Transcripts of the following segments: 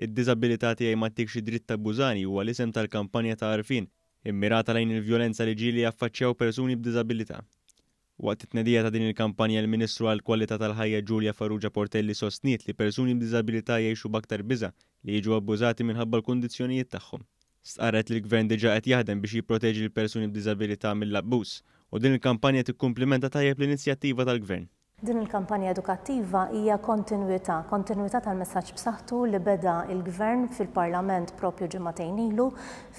Id-Diżabilità Tiegħi Ma Ttikx Id-Dritt Tabbużani huwa l-isem tal-kampanja ta' għarfien immirata lejn il-vjolenza li ġieli jaffaċċjaw persuni b'diżabilità. Waqt it-tnedija ta' din il-kampanja l-Ministru għall-Kwalità tal-Ħajja Julia Farrugia Portelli sostniet li persuni b'diżabilità jgħixu b'aktar biża' li jiġu abbużati minħabba l-kundizzjonijiet tagħhom. Stqarret li l-Gvern diġà qed jaħdem biex jipproteġi lill-persuni b'diżabilità mill-abbuż u din il-kampanja tikkumplimenta tajjeb l-inizjattiva tal-Gvern. Din il-kampanja edukattiva hija kontinwità, kontinwità tal-messaġġ b'saħħtu li beda l-Gvern fil-Parlament proprju ġimagħtejn ilu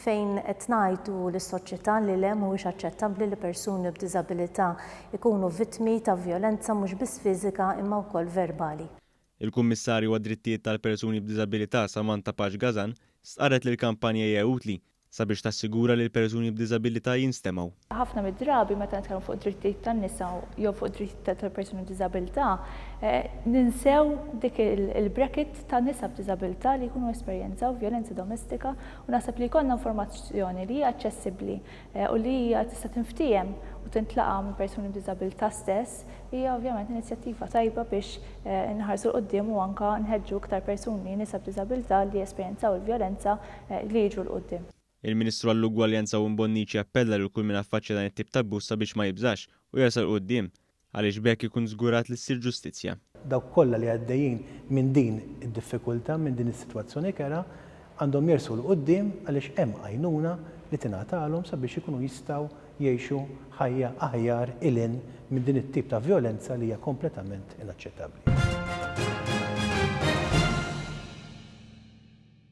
fejn qed ngħidu lis-soċjetà li le mhuwiex aċċettabbli li persuni b'diżabilità jkunu vittmi ta' vjolenza mhux biss fiżika imma wkoll verbali. Il-Kummissarju għad-Drittijiet tal-Persuni b'Diżabilità Samantha Pax Gazan stqarret li l-kampanja hija utli sabiex tassigura li l-persuni b'diżabilità jinstemgħu. Ħafna mid-drabi meta nitkellmu fuq id-drittijiet tan-nisa jew fuq id-drittijiet tal-persuni b'diżabilità ninsew dik il-bracket ta' nisa b'diżabilità li jkunu esperjenzaw vjolenza domestika u naħseb li jkollna informazzjoni li hija aċċessibbli u li hija tista' tinftiehem u tintlaqa' minn persuni b'diżabilità stess, hija ovvjament inizjattiva tajba biex inħarsu 'l quddiem u anke nħeġġu iktar persuni, nisa b'diżabilità li jesperjenzaw il-vjolenza, li jiġu 'l quddiem. Il-Ministru għall-Ugwaljanza Owen Bonnici appella lil kull min affaċċja dan it-tip ta' abbuż sabiex ma jibżax u jersaq 'l quddiem. Għaliex b'hekk ikun żgurat li ssir ġustizzja. Dawk kollha li għaddejjin minn din id-diffikultà, minn din is-sitwazzjoni kerha, għandhom jersqu 'l quddiem għaliex hemm għajnuna li tingħatalhom sabiex ikunu jistgħu jgħixu ħajja aħjar 'il hinn minn din it-tip ta' vjolenza li hija kompletament inaċċettabbli.